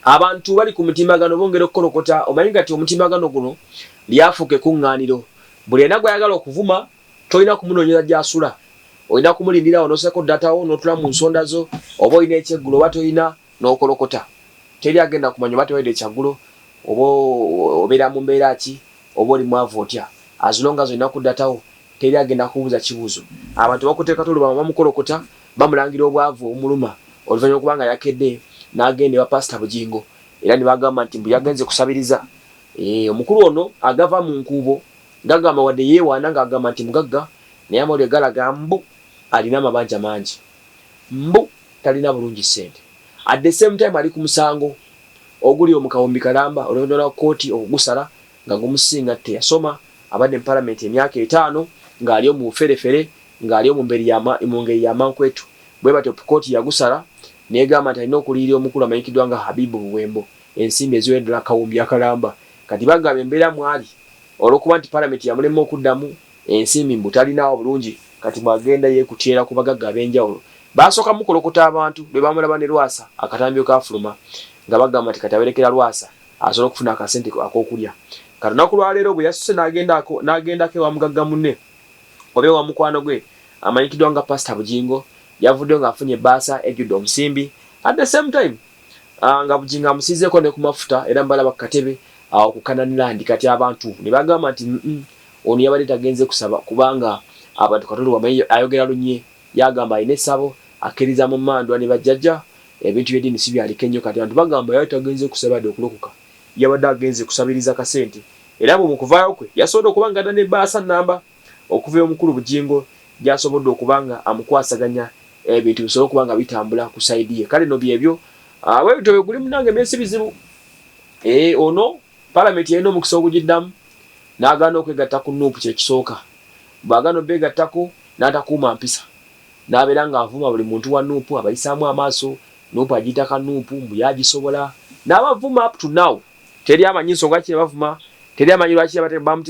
abantu bali ku mutimbagano bongera okukolokota omanyi ngati omutimbagano guno lyafuuka ekuŋŋaaniro buli ena gwe ayagala okuvuma tolina kumunoonyeza gyasula olina kumulindirawo nosako datawo notula mu nsonda zo oba olina ekyeggulo oba tolina Nokolokota teri agenda kumanya oba tewalidde kyaggulo oba obeera mu mbeera ki oba oli mwavu otya as long as olina ku data wo teri agenda kukubuuza kibuuzo. Abantu bakuteeka tuluba mama mukolokota bamulangira obwavu obumuluma oluvanyuma lwokuba nga yakedde nagenda ewa pastor Bugingo era nebagamba nti mbu yagenze kusabiriza eeh omukulu ono agava mu nkuubo gagamba wadde yewaana nga agamba nti mugagga naye amawulire galaga mbu alina amabanja mangi mbu talina bulungi sente at the same time ali kumusango oguli omukawumbi kalamba oluvanyuma lwa kooti okugusala nga gumusinga teyasoma abadde mu palamenti emyaka etaano nga ali omu buferefere nga ali omu ngeri yamankwetu bwebatyo kooti yagusala negamba nti alina okuliyirira omukulu amanyikiddwa nga Habibu Buwembo ensimbi eziwedra akawumbi akalamba kati bagaba embeera mwali olwokuba nti palamenti yamulema okuddamu ensimbi mbu talinaawo bulungi kati bwagenda yekutyera ku bagagga abenjawulo baasooka mukolokota abantu lwebamulaba ne Lwasa akatambi wekaafuluma nga bagamba nti kati aberekera Lwasa asobole okufuna akasente akokulya kati olunaku lwaleero bweyasuse nagendako ewa mugagga munne oba ewa mukwano gwe amanyikiddwa nga Pastor Bugingo yavuddeyo nga afunye ebbaasa ejjudde omusimbi at the same time ah, nga Bugingo amusiizeeko ne ku mafuta era mbalaba ku katebe awo ku Canaan Land kati abantu nebagamba nti mm, mm, Ono yabadde tagenze kusaba kubanga abantu Katonda wamanyi ayogera lunye yagamba alina esabo akiriza mu mandwa ne bajjaja ebintu bye dini sibyaliko enyo kati abantu bagamba yali tagenze kusaba yade okulokoka yabadde agenze kusabiriza kasente era mbu mukuvayo kwe yasobodde okuba nga adda ne baasa namba okuva ewomukulu Bugingo gyasobodde okuba nga amukwasaganya ebintu bisobole okuba nga bitambula ku side ye kale no byebyo bwebityo bweguli munange emyesi bizibu ee eh, ono palamenti yalina omukisa ogugiddamu. n'agaana okwegatta ku nup kye kisooka, bw'agaana obeegattako n'atakuuma mpisa n'abeera ng'avuma buli muntu wa nup abayisaamu amaaso, nup agiyita ka nup, mbu ye agisobola n'abavuma up to now teri amanyi nsonga ki ebavuma, teri amanyi lwaki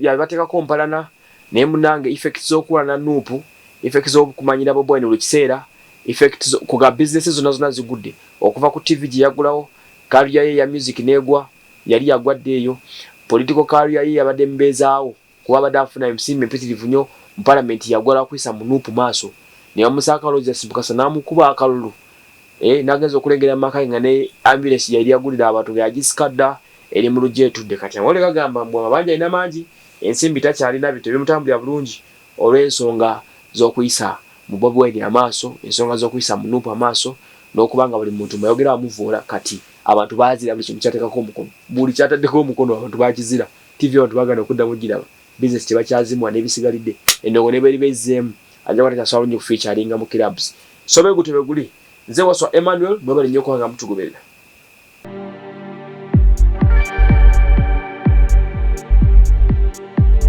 yabateekako mpalana, naye munnange effects z'okukola na nup, effects z'okumanyira Bobi Wine buli kiseera, effects ku ga business zonna zonna zigudde okuva ku TV gye yaggulawo, career ye eya music n'egwa. yali yagwa dda eyo. Political career ye yabadde mbeezaawo kuba abadde afuna emsimbi mpitirivu nnyo mu Palamenti yagwa lwa kuyisa mu nup maaso ne bamussa akalulu Justice Mukasa n'amukuba akalulu eh nagenze okulengera mu maka ge nga ne Ambulance gyeyali yagulira abantu nga yagisika dda eri mu luggya etudde kati amawulire gagamba mbu amabanja alina mangi ensimbi takyalina bintu tebimutambulira bulungi olw'ensonga z'okuyisa mu Bobi Wine amaaso, ensonga z'okuyisa mu nup amaaso n'okuba nga buli muntu mbu ayogera amuvvoola kati. Abantu bazira buli kintu kyatekako omukono. Buli kyataddeko omukono abantu bakizira. Ttivi abantu bagana okuddamu ogiraba. Bizinesi tebakyazimuwa n'ebisigalidde. Endongo ne bweriba ezzeemu, ajja kuba takyasobola bulungi kufiicaringa mu kirabs. So bwe gutyo bwe guli. Nze Wasswa Emmanuel, mwebale nnyo okuba nga mutugoberera.